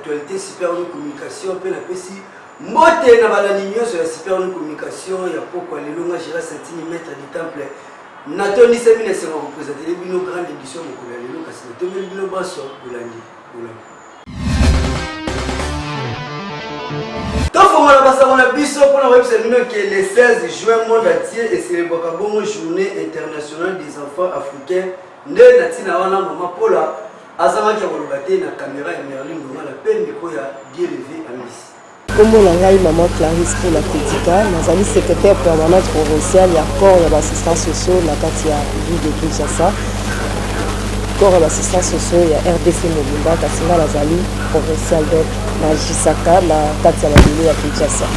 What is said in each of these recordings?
Actualité Super New Communication mpe napesi mbote na balandi nyonso ya Super New Communication ya pokwa lelo nga Gérard Santini maître du temple natondisami na esengo kopresentele bino grande édition mokolo ya lelo kasi natombeli bino banso bolandi bolandi tofongola basango na biso mpo na koyebisa bino ke le 16 juin monde entier eselebwaka bongo journée internationale des enfants africains nde na ntina wana mama pola Azangaki ya koloba te na kamera ya Merlin Lungala mpe mikro ya Dieleve Amis. Kombo na ngai Maman Clarisse Pola Kedika, nazali secrétaire permanente provinciale ya corps ya bassistants sociaux na kati ya ville de Kinshasa. Corps ya bassistants sociaux ya RDC mobimba, kasi ngai nazali provinciale donc na Gisaka na kati ya mabele ya Kinshasa.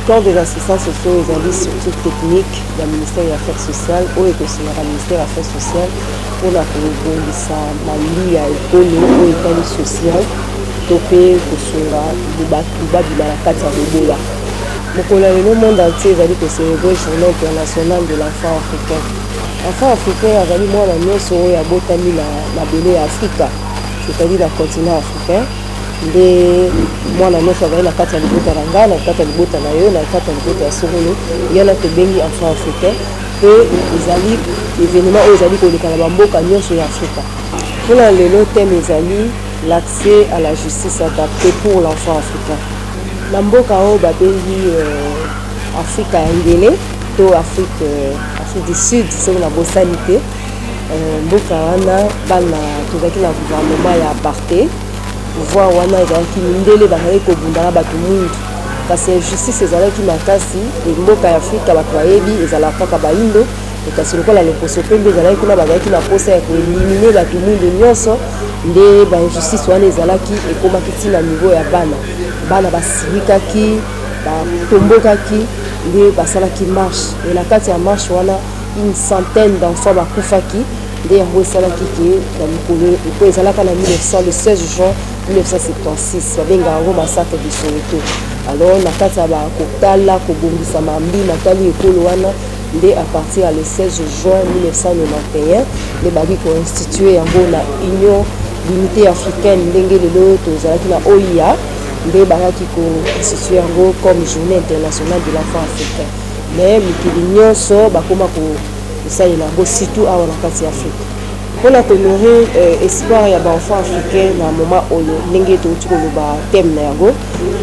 Corps des assistants sociaux ezali surtout technique ya ministère ya affaires sociales oyo ekosunaka ministère ya affaires sociales mpo na kobongisa malili ya ekolo oyo etali social to mpe kosunga bato babima na kati ya bobola. Mokolo ya lelo monde entier ezali ko celebrer journee internationale de l'enfant africain. Enfant africain azali mwana nyonso oyo abotami na mabele ya Afrika, c'est-à-dire na continent africain, nde mwana nyonso azali na kati ya libota na ngai, na kati ya libota na yo, na kati ya libota ya songolo, ye wana tobengi enfant africain. Mpe ezali evenement oyo ezali koleka na bamboka nyonso ya Afrika. Mpo na lelo thème ezali L'accès à la justice adaptee pour l'enfant africain. Na mboka oyo babengi Afrika ya ngele to Afrique Afrique du Sud soki nabosani te, mboka wana bana tozalaki na gouvernement ya apartheid, pouvoir wana ezalaki mindele bazalaki kobunda na bato mwindu. Kasi injustice ezalaki makasi et mboka ya Afrika bato bayebi ezalaka kaka baindo et kasi lokola loposo pembe ezalaki kuna bazalaki na posa ya ko eliminer bato mwindu nyonso nde ba injustice wana ezalaki ekomaki ti na niveau ya bana bana basilikaki batombokaki nde basalaki marche et na kati ya marche wana une centaine d'enfants bakufaki nde yango esalaki ke na mikolo mpo ezalaka na 1900 le 16 juin 1976 babengaka yango massacre de soweto alors na kati ya bakotala kobongisa mambi matali ekolo wana nde à partir ya le 16 juin 1991 nde baki koinstitue yango na union l'unité africaine ndenge lelo tozalaki na oia nde bayaki koinstitue yango comme journée internationale de l'enfant africain mais mikili nyonso bakoma kosalela yango surtout awa na kati ya afrika Pona ko nourrir espoir ya ba enfants africains na moment oyo ndenge towuti koloba thème na yango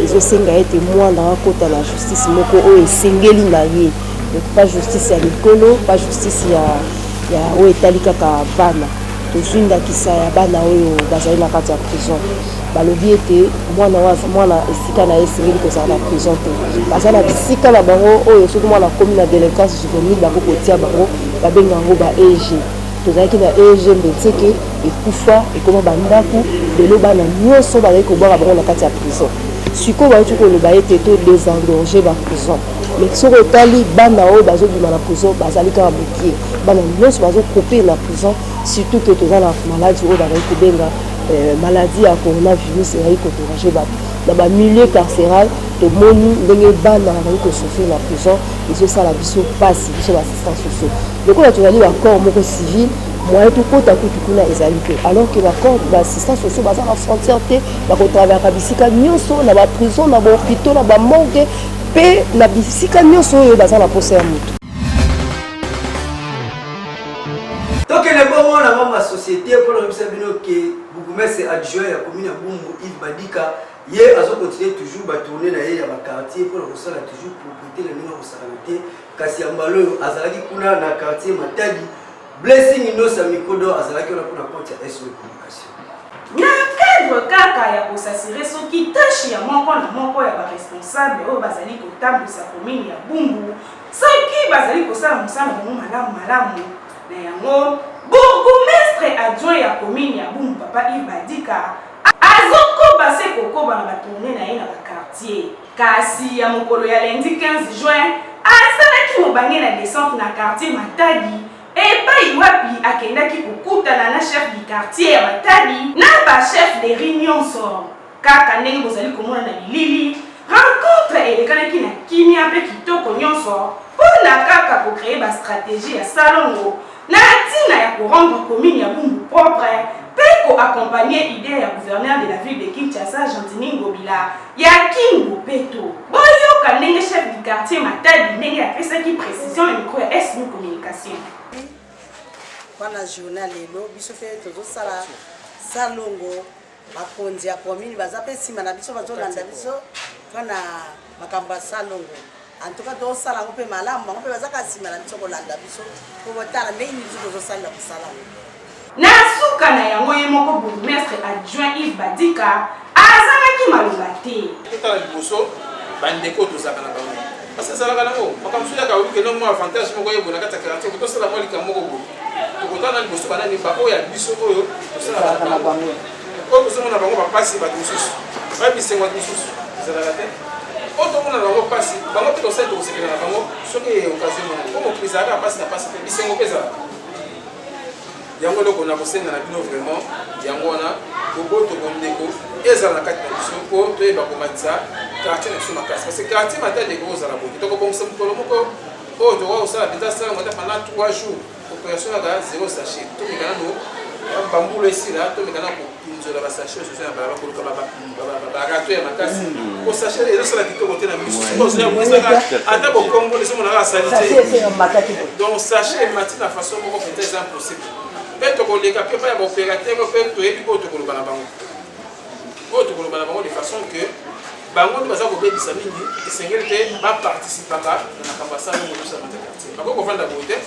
ezosenga ete muana akota na justice moko oyo esengeli na ye donc pas justice ya mikolo pas justice ya ya oyo etali kaka bana tozwi ndakisa ya bana oyo bazali na kati ya prison balobi ete mwana waza mwana esika na ye esengeli kozala na prison te baza na bisika na bango oyo soki mwana akomi na delinquance juvenile bakoki kotia bango babenga yango ba eg Tozalaki na eeg mbetseke ekufa ekoma ba ndaku lelo bana nioso bazali kobwaka bango na kati ya prison sikoyo bauti koloba ete to desengorger ba prison mais soki otali bana oyo bazobima na prison bazali kaka mokie bana nioso bazokope na prison surtout que toza na maladi oyo bazali kobenga euh, maladi ya coronavirus ezali koderange bato na bamilieu carcéral tomoni ndenge bana bazali kosofri na prison ezosala biso mpasi biso baasistance sociaux Lokola tozali ba corps moko civil, moyen tokota kutu kuna ezali te, alors que ba corps ba assistants sociaux baza na frontière te, bako travaillaka bisika nionso, na ba prisons, na ba hopitaux, na ba morgues mpe na bisika nionso oyo baza na posa ya moto. Tokende bongo na ngambo ya societe mpo na koyebisa bino ke bourgmestre adjoint ya commune ya Bumbu Yves Badika ye azo continuer toujours ba tourner na ye ya ba quartier mpo na kosala toujours propriété na ndenge ya kosakana te kasi ya mbala oyo azalaki kuna na quartier matadi blessing inosa mikodo azalaki wana mpona compte ya sw communication na cadre kaka ya kosasire soki tashi ya moko na moko ya baresponsable oyo bazali kotambwisa komini ya bumbu soki bazali kosala mosala bango malamu malamu na yango bourgmestre adjoint ya komini ya bumbu papa ive badika azokoba se kokoba na batourne na ye na bakartier Kasi ya mokolo ya lundi 15 juin, asalaki mobange na descente na quartier Matadi epayi wapi akendaki kokutana na chef du quartier ya Matadi na ba chefs de rue nionso. Kaka ndenge bozali komona na bilili, rencontre elekanaki na kimia mpe kitoko nionso mpo na kaka ko creer ba strategies ya salongo Na ntina ya ko rendre commune ya Bumbu propre mpe ko accompagner idee ya gouverneur de la ville de Kinshasa, Gentiny Ngobila, ya Kin Bopeto. Boyoka ndenge chef du quartier Matadi ndenge apesaki precision na micro ya SB Communication. Wana journal lelo biso mpe tozosala salongo. Bakonzi ya commune baza pe sima na biso bazolanda biso mpona makambo ya salongo antuka tosala yango mpe malamu bango mpe bazaka nsima na biso kolanda biso mpo botala ndenge nini biso tozosalela mosala yango na suka na yango ye moko bourgmestre adjoint ive badika azangaki maloba te totala liboso bandeko tozalaka na bango Parce ezalaka nango makambo soki yaka oluke no mwa avantage moko yeboye na kati ya karate okoki tosala mwa likambo moko boye tokotana na liboso banani baoyo ya biso oyo tosalaka na bango oyo tozomona bango bapasi bato mosusu baye bisengo bato mosusu ezalaka te oyo tomona na bango mpasi bango mpe tosali tokosepela na bango soki eyokazi mona mpo mokili ezalaka mpasi na mpasi mpe bisengo mpe ezalaka yango eloko na kosenga na bino vraiment yango wana boboto bondeko ezala na kati na biso mpo toyeba komatisa quartier na biso makasi parce que quartier matali ekoki kozala boye tokobongisa mokolo moko oyo tokoki kosala mpenza sala mata pendant 3 jours operation yaka zero sachet tomeka nano bambula esila tomeka na pinzola ba sachet ozo na balaba koluka ba ba rato ya makasi ko sachet ezo sala kitoko te na misu siko ozo ya kusa ka ata ko kongo les mona ka sali te donc sachet mati na façon moko peut être impossible pe to koleka pe ba ya opérateur pe to yebi ko to koloba na bango ko to koloba na bango de façon que bango nde baza kobebisa mingi esengeli te baparticipaka na makambo asala ngo tosa na quartier bakoki kofanda boye te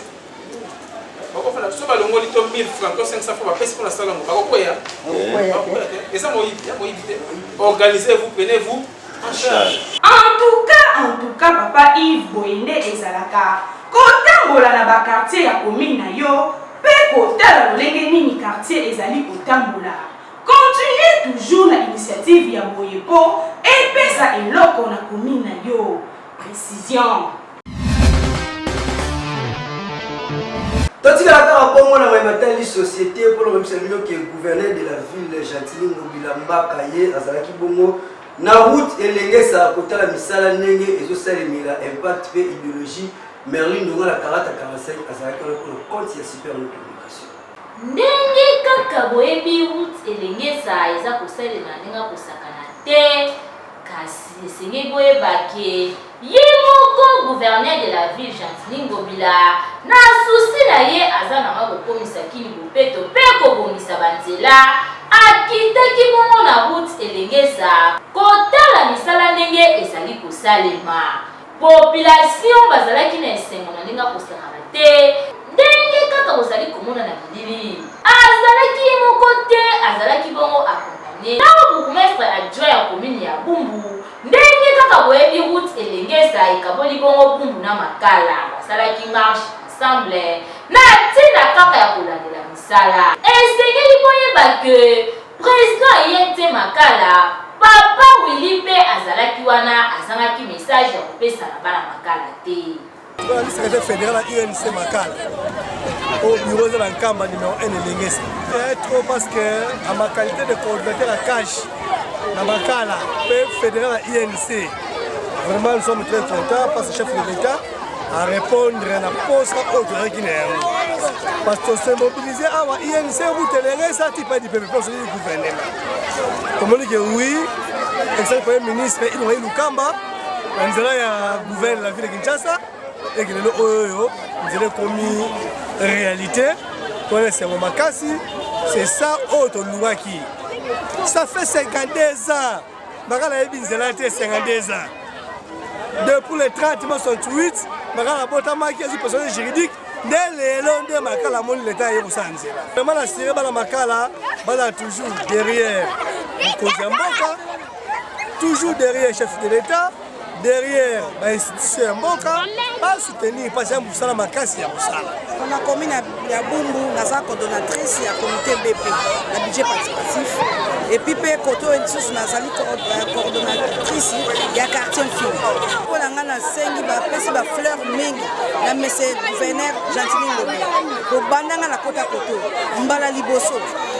bakofana so balongoli to 1000 francs to 500 francs bapesi mpo na sala yango bakokweya eza moyibi ya moyibi te organisez vous prenez vous en charge en tout cas en tout cas papa yves boye nde ezalaka kotambola na bakartier ya commune na yo mpe kotala lolenge nini kartier ezali kotambola continue toujours na initiative ya boye mpo epesa eloko na commune na yo précision totikala kaka bongo na mai matali société mpo na koyebisa bino ke gouverneur de la ville gentili ngobila mbaka ye azalaki bongo na route elengesa kotala misala ndenge ezosalemela impact mpe idéologie merlin ndonga na karata 45 azalaki wana mpona compte ya super communication ndenge kaka boyebi route elengesa eza kosalema ndenge akosakana te Kasi esengeli boyeba ke ye moko gouverneur de la ville Gentiny Ngobila na souci na ye aza nanga kokomisa Kin bopeto mpe kobongisa ba nzela, akitaki bongo na route Elengesa kotala misala ndenge ezali kosalema. Population bazalaki na esengo na ndenge akosakana te ndenge kaka ozali komona na bilili. Azalaki ye moko te, azalaki bongo akompanye. Ntango bourgmestre adjoint ya komini ya Bumbu, ndenge kaka boyebi route Elengesa ekaboli bongo Bumbu na Makala, basalaki marche ensemble na ntina kaka ya kolandela misala. Esengeli boyeba que President aye te makala. Papa Willy mpe azalaki wana azangaki message ya kopesa na bana makala te. Tozalaki secrétaire fédéral ya UNC Makala au bureau de la Nkamba numéro 1 elengesa eh, trop parce que à ma qualité de coordinateur ya cash na Makala mpe fédéral ya UNC vraiment nous sommes très contents parce que chef de l'État a repondre na posa oyo tozalaki na yango parce que se mobilise awa inc rutelere esati pa dipepe mpe osokii gouvernement tomoni ke oui exali premier ministre ilongai lukamba na nzela ya gouverne la ville ya kinshasa eke lelo oyoyo nzela ekomi réalité tona esengo makasi c'est ça oyo tolukaki ça fait 52 ans baka nayebi nzela te 52 ans depuis le 30 mars 68 baka nabotamaki ezwi personnel juridique nde lelo nde makala amoni leta aye kosala nzela vraimen na sire bana makala bana toujours derrière mokonzi ya mboka toujours derrière chef de l'etat derrière ba institution ya mboka ba soutenir mpo aza mosala makasi ya kosala na commune ya bumbu naza coordonnatrice ya comité bp na budget participatif epuis mpe kote oyo lisusu nazali euh, coordonnatrice ya quartier mfil mpo na ngai nasengi bapesi bafleur mingi na mese gouverneur gentili ngobe kobanda ngai nakota koto mbala liboso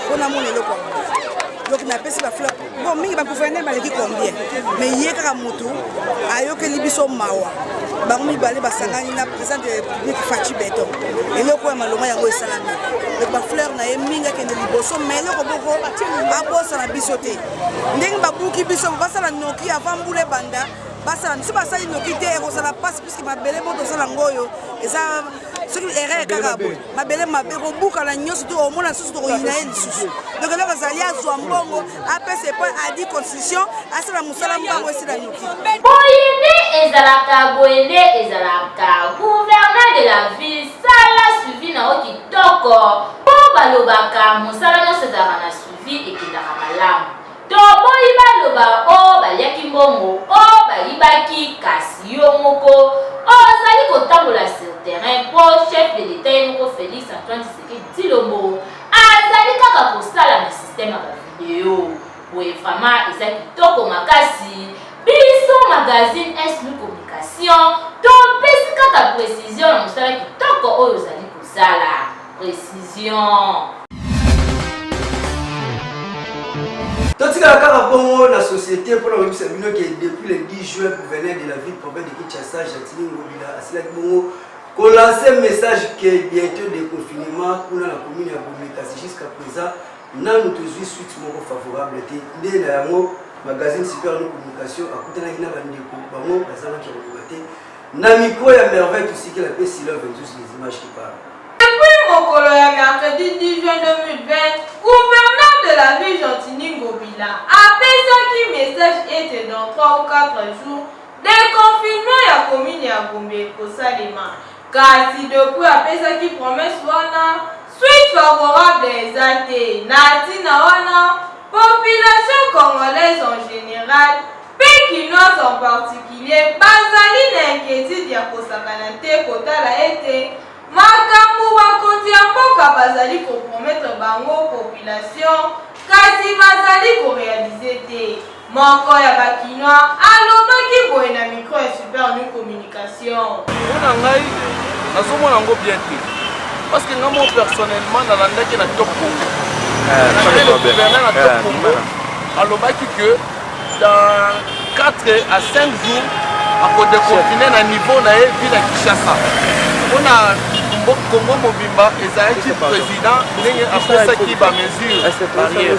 mpo namona eloko yango donc napesi bafleur Bon, mingi ba gouverneur baleki combien mais ye kaka mutu ayokeli biso mawa bango mibale basangani na président de république faci beton eloko ya malonga yango esalami donc bafleur na ye mingi akende liboso mais eloko boko abosana biso te ndenge babuki biso basala noki avant mbula ebanda basala biso basali noki te ekozala mpasi puiske mabele bo tosala yango oyo eza soki erreur kaka boye mabele mabe kobukana nyonso to omona lisusu tokoyina ye lisusu donc eloko ezali azwa mbongo apesa epai adi constitution asala mosala mbango esila noki boye nde ezalaka boye nde ezalaka gouverneur de la ville sala suivi na yo kitoko mpo balobaka mosala nyonso ezalaka na suivi ekendaka malamu Toboyi baloba o baliaki mbongo o bayibaki kasi yo moko ozali kotambola sur terrain mpo chef de l'etat ye moko Felix Antoine Tshisekedi Tshilombo azali kaka kosala na système ya bavideo boye vraiment eza kitoko makasi biso magazine SLU Communication topesi kaka precision na mosala kitoko oyo ozali kosala. Precision. totikala kaka bongo na société mpona koyebisa bino ke depuis le 10 juin gouverneur de la ville province de kinshasa jatini ngobila asilaki bongo kolanse message ke bientôt de confinement kuna na commune ya gombe kasi jusqu'à présent nanu tozwi suite moko favorable te nde na yango magazine super no communication akutanaki na bandeko bango bazangaki ya koloba te Na micro ya merveille tosikela pe silove tous les images qui parlent. Depuis mokolo ya mercredi 10 juin 2020, gouverneur de la ville Gentini Ngobila apesaki message ete dans 3 ou 4 jours deconfinement ya commune ya Gombe ekosalema. Kasi depuis apesaki promesse wana suite favorable eza te. Na ntina wana population congolaise en général mpe Kinois en particulier, bazali na inquietude ya kosakana te kotala ete makambo bakonzi ya mboka bazali ko promettre bango population kasi bazali ko realiser te. Moko ya ba Kinois alobaki boye na micro ya Super Nu Communication. Mpo na ngai nazomona yango bien te parce que ngai moko personnellement nalandaki na top congo eh, nalandaki le gouverneur na top eh, congo alobaki que dans 4 à 5 jours akodeconfine na niveau na ye ville ya kinshasa mpo na congo mobimba ezalaki président ndenge apesaki bamesure barrière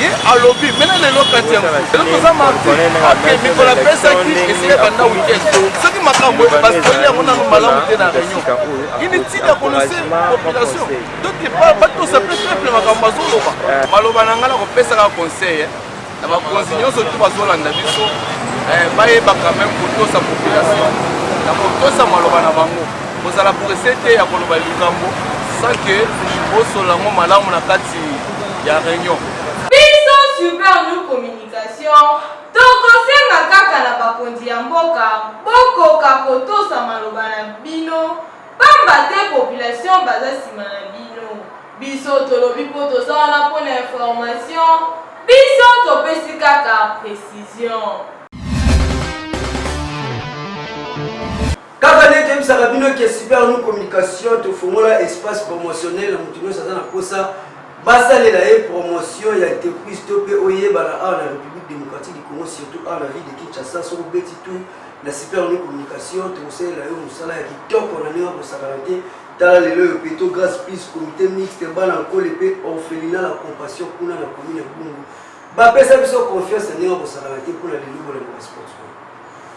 ye alobi mena lelo kati yango lelo toza marti ok mikolo apesaki esika ebanda weekend soki makambo basoli yango nano malamu te na réunion ini ntina ya konose population donc batosa mpe peuple makambo bazoloba eh. maloba na ngai na kopesaka conseil eh, na bakonzi nyonso tu bazolanda biso eh, bayeba quand même kotosa population na kotosa maloba na bango kozala presse te ya koloba likambo sans ke osola yango malamu na kati ya reunion. Biso super new communication tokosenga kaka na bakonzi ya mboka bokoka kotosa maloba na bino pamba te population baza nsima na bino biso tolobi mpo toza wana mpo na information biso topesi kaka precision Kaka nde toyebisaka bino ke Super Nu Communication tofongola espace promotionnel na moto nyonso aza na mposa basalela ye promotion ya entreprise to mpe oyebana awa na République démocratique du Congo surtout awa na ville de Kinshasa soki obeti tu na Super Nu Communication tokosalela yo mosala ya kitoko na ndenge akosakana te tala lelo oyo peto grace plus comité mixte bana nkole mpe orphelina na compassion kuna na commune ya Bungu bapesa biso confiance na ndenge akosakana te mpo na lelo bolanda basport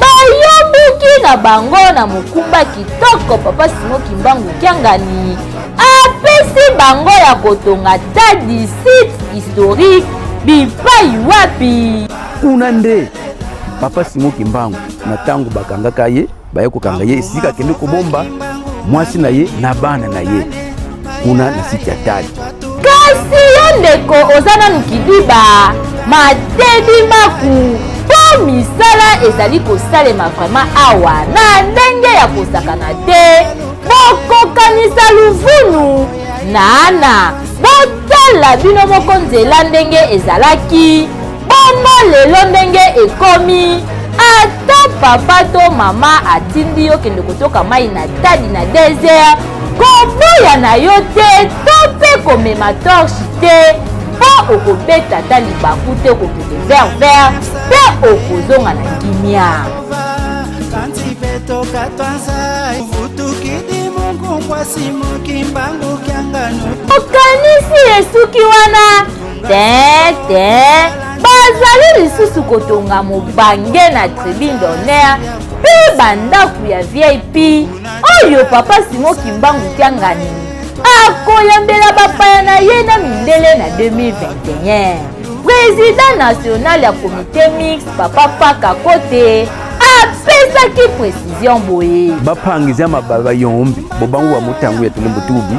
bayobuki na bango na mokumba kitoko papa simo kimbangu kiangani apesi bango ya kotonga tadi site historique bipai wapi kuna nde papa simo kimbangu na ntango bakangaka ye baye kokanga ye esika akende kobomba mwasi na ye na bana na ye kuna na site ya tali kasi yo ndeko oza nanu kidiba matedi maku mpo misala ezali kosalema vraimen awa na ndenge ya kosakana te bokokanisa luvunu na ana botala bino moko nzela ndenge ezalaki Bongo lelo ndenge ekomi ata papa to mama atindi yo kende kotoka mai na tadi na desert koboya na yo te to mpe komema torche te mpo okobeta ata libaku te okokende vert vert mpe okozonga na kimia okanisi esuki wana te te bazali lisusu kotonga mobange na tribune d'honneur mpe bandako ya vip oyo papa simo kimbangu kiangani akoyambela bapaya na ye na mindele na 2021 prezida national ya komite mix papa paka kote apesaki precision boye bapangizi ya mabala bayombi bobangu ya motango ya tulembo tubi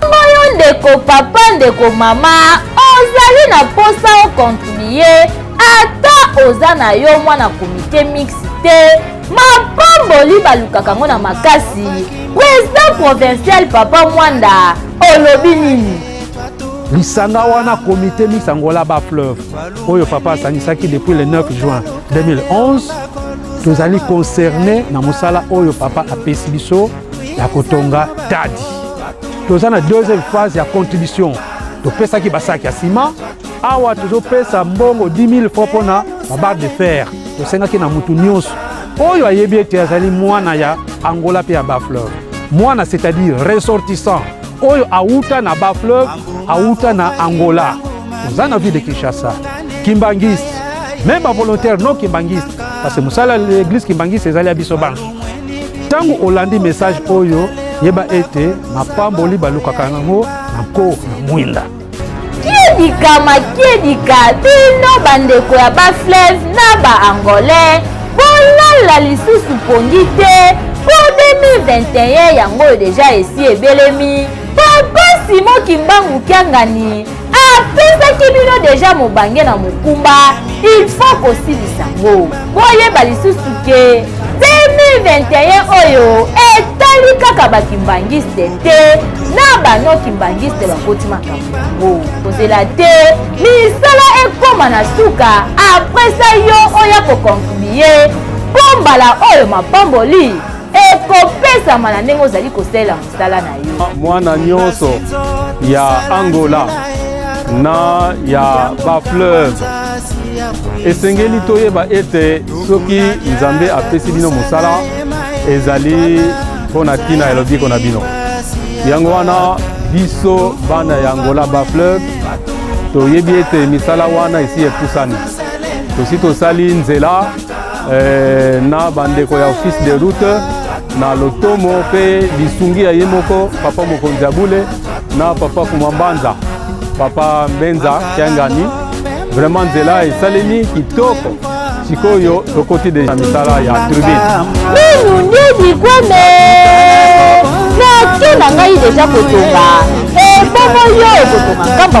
Bongo yo ndeko papa ndeko mama ozali na mposa okontinue ata oza na yo mwana komite mixte te mapamboli balukaka yango na makasi president provincial papa mwanda olobi nini lisanga wana komite mix angola ba fleuve oyo papa asangisaki depuis le 9 juin 2011 tozali concerne na mosala oyo papa apesi biso ya kotonga tadi toza na deuxième phase ya contribution topesaki basaki ya sima awa tozopesa mbongo 10 000 francs mpo na babarre de fer tosengaki na motu nyonso oyo ayebi ete azali mwana ya angola mpe ya bafleur mwana c'est-à-dire ressortissant oyo awuta na bafleur awuta na angola toza na ville de kinshasa kimbangiste meme bavolontaire non kimbangiste parce que mosala ya eglise kimbangiste ezali ya biso banso Ntango olandi mesaje oyo, yeba ete mapamboli balukaka yango na nko na mwinda. Kiedikama kiedika bino bandeko ya bafleve na baangolais bolala lisusu pongi te mpo 2021 yango deja esi ebelemi papa simo kimbangu kiangani apesaki bino deja mobange na mokumba il faut kosilisa yango boyeba lisusu ke 2021 oyo etali kaka bakimbangiste te na bano kimbangiste bakoti makambo yango kozela te misala ekoma na suka apres sa yo oya kokontribue mpo mbala oyo mapamboli ekopesama na ndenge ozali kosalela zala na yo mwana nyonso ya angola na ya bafleuve esengeli toyeba ete soki nzambe apesi bino mosala ezali mpo na ntina ya lobiko na bino yango wana biso bana ya angola bafleuve toyebi ete misala wana esi epusani tosi tosali nzela eh, na bandeko ya office de route na lotomo mpe lisungi ya ye moko papa mokonzi ya bule na papa kumambanza papa mbenza kiangani vraiment nzela esalemi kitoko sikoyo tokoti deja misala ya tribune nanu nde bikwame naki na ngai deja kotonga ebongo yo okotonga kamba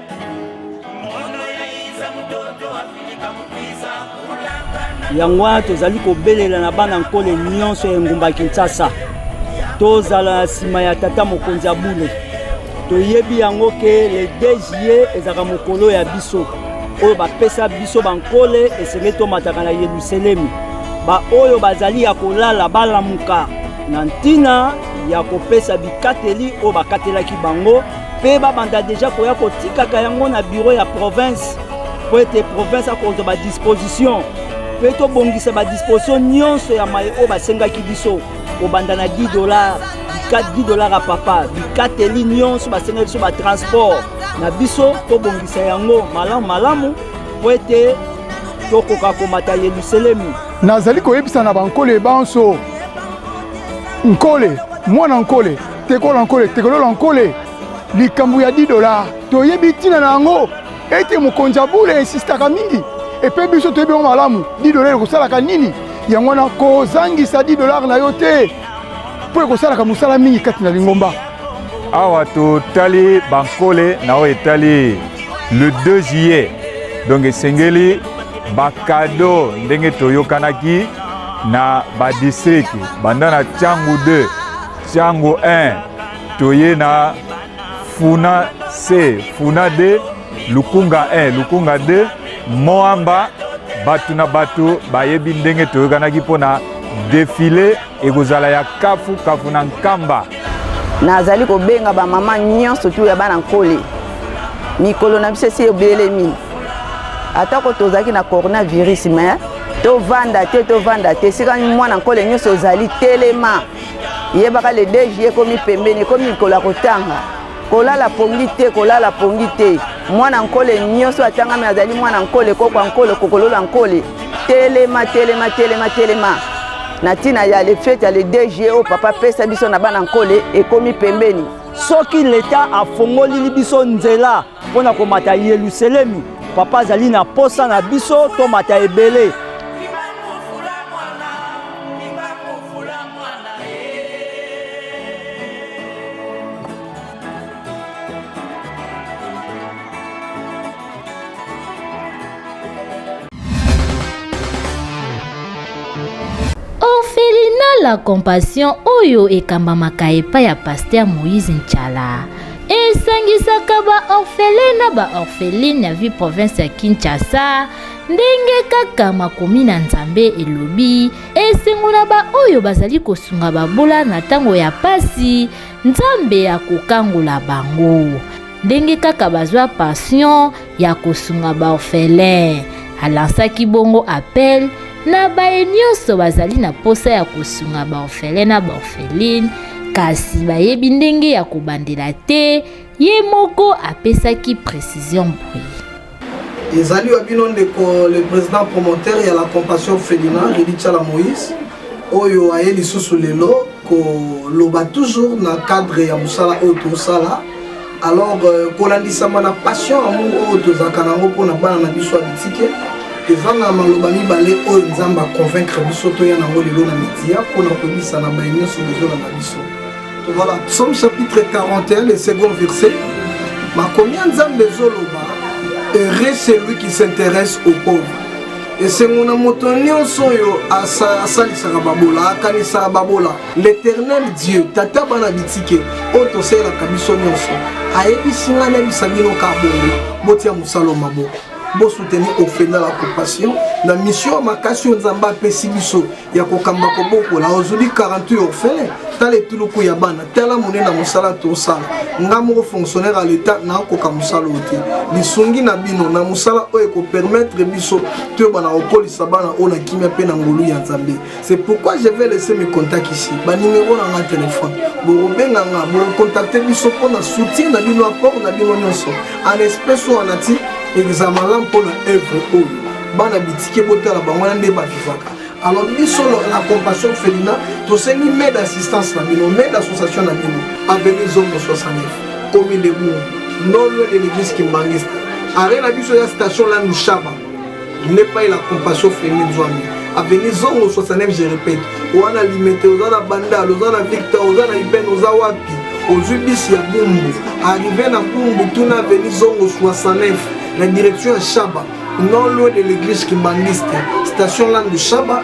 yango wana tozali kobelela na bana nkole nyonso ya engumba ya kinshasa tozala na nsima ya tata mokonzi ya bule toyebi yango ke le 2 juillet ezalaka mokolo ya biso oyo bapesa biso bankole esengeli tomataka na yerusalemi baoyo bazali ya kolala balamuka na ntina ya kopesa bikateli oyo bakatelaki bango mpe babanda deja koya kotikaka yango na biro ya province mpo ete province akozwa badisposition mpe tobongisa badisposition nyonso ya maye oyo basengaki biso kobanda na 10 dollar 10 dollar ya papa bikateli nyonso basengaki biso batransport na biso tobongisa yango malamu malamu mpo ete tokoka komata yelusalemi nazali koyebisa na bankole banso nkole mwana nkole tekola nkole tekolola nkole likambo ya 10 dola toyebi ntina na yango ete mokonzi ya bule esistaka mingi epe biso toyebi yango malamu 10 dola ekosalaka nini yango wana kozangisa 10 dolar na yo te mpo ekosalaka mosala mingi kati na lingomba awa totali bankole na oyo etali le 2 juillet donc esengeli bakado ndenge toyokanaki na badistrike banda na ntango 2 Tiango 1 toye na Funa C, Funa D, Lukunga 1, Lukunga 2, Moamba bato na bato bayebi ndenge toyokanaki mpo na defile ekozala ya kafu kafu na nkamba nazali kobenga bamama nyonso tu ya bana nkole mikolo na biso esi ebelemi atako tozalaki na coronavirus me tovanda te tovanda te esika mwana nkole nyonso ozali telema yebaka le dj ekomi pembeni ekomi mikolo ya kotanga kolala pongi te kolala pongi te mwana nkole nyonso atangami azali mwana nkole kokwa nkole kokolola nkole telema telema telema telema na ntina ya lefete ya le dg oyo papa apesa biso na bana nkole ekomi pembeni soki leta afongolili biso nzela Mpo na komata Yeluselemi, papa azali na mposa na biso tomata ebele. la compassion oyo ekambamaka epai ya pasteur moïse nchala esangisaka ba orphelins na ba orphelines ya ville province ya Kinshasa ndenge kaka makomi na Nzambe elobi esengo na baoyo bazali kosunga babola na ntango ya pasi Nzambe akokangola bango ndenge kaka bazwa pension ya kosunga baorphelin. Alansaki bongo appel na baye nyonso bazali na mposa ya kosunga baorphelin na baorpheline kasi bayebi ndenge ya kobandela te ye moko apesaki precision boye ezali wa bino ndeko le président promoteur ya la compassion felina redityala moïse oyo aye lisusu lelo koloba toujours na cadre ya mosala oyo tosala alors euh, kolandisama na passion amour oyo tozalaka nango mpo na bana na biso ya bitike ezanga maloba mibale oyo nzambe aconvaincre biso toya nango lelo na media mpo na koyebisa na baye nyonso bozolanda biso voilà psaume chapitre 41 le second verset makomi ya nzambe ezoloba heureux celui qui s'intéresse au pauvre esengo na moto nyonso oyo asalisaka babola akanisaka babola L'Eternel Dieu, tata bana bitike oyo tosalelaka biso nyonso, ayebisi ngai nayebisa bino ka bongo, botia mosala maboko bosoutenir ofenda la compassion na mission makasi oyo nzambe apesi biso ya kokamba kobokola ozuli 48 orphelin tala etuluku ya bana tala monene mosala tosala nga moko fonctionnaire ya leta nakoka mosala oyo te lisungi na bino na mosala oyo ekopermettre biso toyebana kokolisa bana oyo na kimia mpe na ngolu ya nzambe C'est pourquoi je vais laisser mes contacts ici. Ba numéro na nga téléphone. Bokobenga nga, bokontacte biso mpo na soutien na bino, apport na bino nyonso. En espèce ou en ati examen la mpo na œuvre oyo. Bana bitike botala bango wana nde bavivaka. Alors biso la compassion felina tosengi maide assistance na bino, maide association na bino. Avenue Zongo 69, commune de Bourg, non loin de l'église Kimbanguiste. Arena biso ya station la Nushaba. nepai la compassion femi nzwami aveni zongo 69 je répète oza na limete oza na bandal oza na victor oza na iben oza wapi ozwi bisi ya bumbu arrive na bumbu tuna aveni zongo 69 na direction ya shaba non loin de l'église kimbanguiste station lande shaba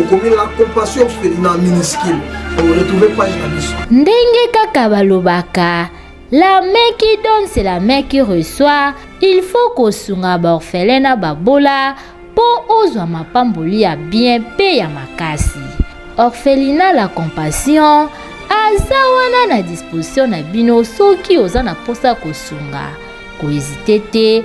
okomi la compassion felina minuscule oretrouve page na biso ndenge kaka balobaka La main qui donne, c'est la main qui reçoit. Il faut kosunga baorphelin na babola mpo ozwa mapamboli ya bien mpe ya makasi. Orphelina la compassion aza wana na disposition na bino soki oza na mposa kosunga. Kohezite te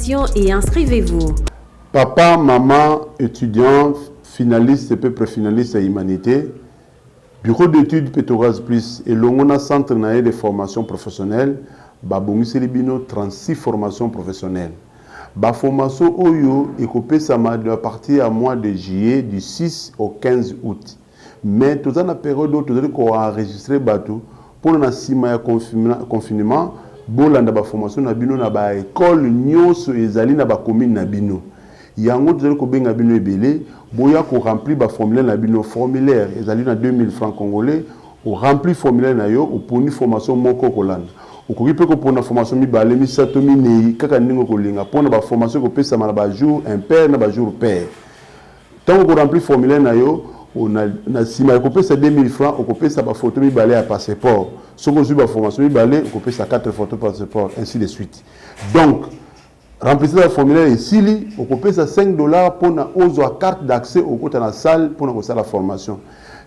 inscription et inscrivez-vous. Papa, maman, étudiant, finaliste mpe préfinaliste ya humanité, Bureau d'études Petrogaz Plus elongo na Centre na ye de formation professionnelle babongiseli bino 36 formations professionnelles. Baformation oyo ekopesama à partir ya mois de juillet du 6 au 15 août. Mais toza na periode oyo tozali ko enregistrer batu pona na sima ya confinement bolanda ba formation na bino na ba ecoles nionso ezali na ba communes na bino. Yango tozali kobenga bino ebele boya ko remplir ba formulaires na bino. Formulaire ezali na 2000 francs congolais. O remplir formulaire na yo oponi formation moko okolanda. Okoki pe kopona formation mibale, misato, mineyi kaka ndenge okolinga pona ba formation ekopesama na ba jours impair na ba jours pair. Tango oko remplir formulaire na yo, na na sima ya kopesa 2000 francs, okopesa ba photos mibale ya passeport. Soki ozui ba formation mibale, okopesa 4 photos passeport, ainsi de suite. Donc, remplissage ya formulaire esili, okopesa 5 dollars pona ozua carte d'accès okota na salle pona kosala formation.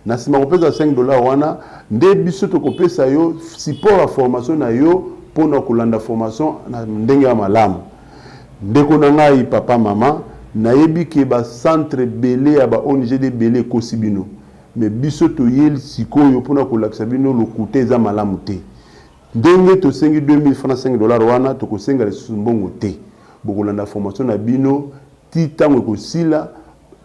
Na sima ya kopesa 5 dollars wana, nde biso tokopesa yo support ya formation na yo pona kolanda formation na ndenge ya malamu. Ndeko na ngayi papa maman nayebi ke ba centre ebele ya ba ong de ebele ekosi bino mais biso toyel sikoyo pona kolakisa bino lokuta eza malamu te ndenge tosengi 2000 fr na 5 dollars wana tokosenga lisusu mbongo te bokolanda formation na bino ti tango ekosila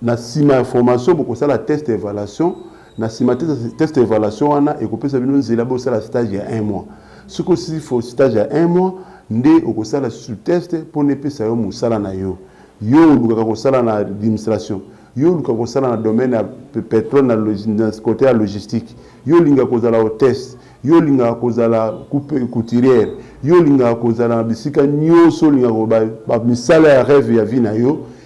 Na sima ya formation, bokosala test ya evaluation. Na sima test ya evaluation wana ekopesa bino nzela bosala stage ya un mois. Soki osili stage ya un mois, nde okosala lisusu test mpo na epesa yo mosala na yo. Yo olukaka kosala na administration? Yo olukaka kosala na domaine ya petrole na cote ya logistique? Yo olingaka kozala hotesse? Yo olingaka kozala couturière? Yo olingaka kozala na bisika nionso olingaka ba misala ya reve ya vie na yo?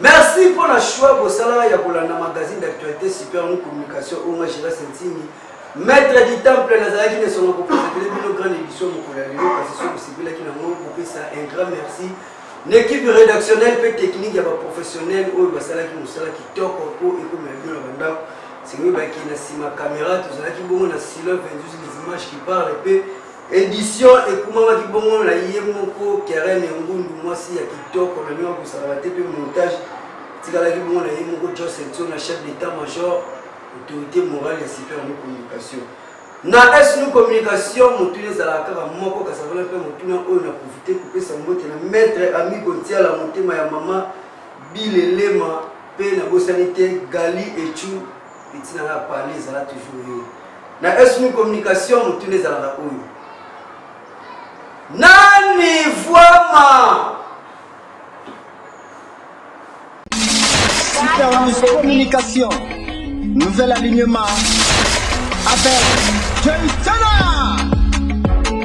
Merci pour la choix bosala ya kolanda magazine d'actualité super nous communication oyo nga Gérard Sentini maître du temple nazalaki na esonga kopresentele bino grande édition mokolo ya lelo kasi soki osepelaki na moi kopesa un grand merci na équipe rédactionnelle mpe technique ya baprofessionnel oyo basalaki mosala kitoko mpo ekomela bino na bandako sikoyo bakei na nsima caméra tozalaki bongo na silo 22 les images qui parle mpe Edition ekumamaki bongo na ye moko Kerene Ngundu, mwasi ya kitoko na ndenge kosalaka te mpe montage etikalaki bongo na ye moko Jos Etso na chef d'état major autorité morale ya super nu communication na snu communication motuna ezalaka kaka moko kasavana mpe motuna oyo na profite kopesa mbote na maître ami kotiala motema ya mama bilelema mpe nabosani te gali echu Petit na nga parler ezala toujours yo. Na esmu communication motuna ezalaka oyo. Nani vuama? Supervis communication. Nouvel alignement avec Joyce Chana.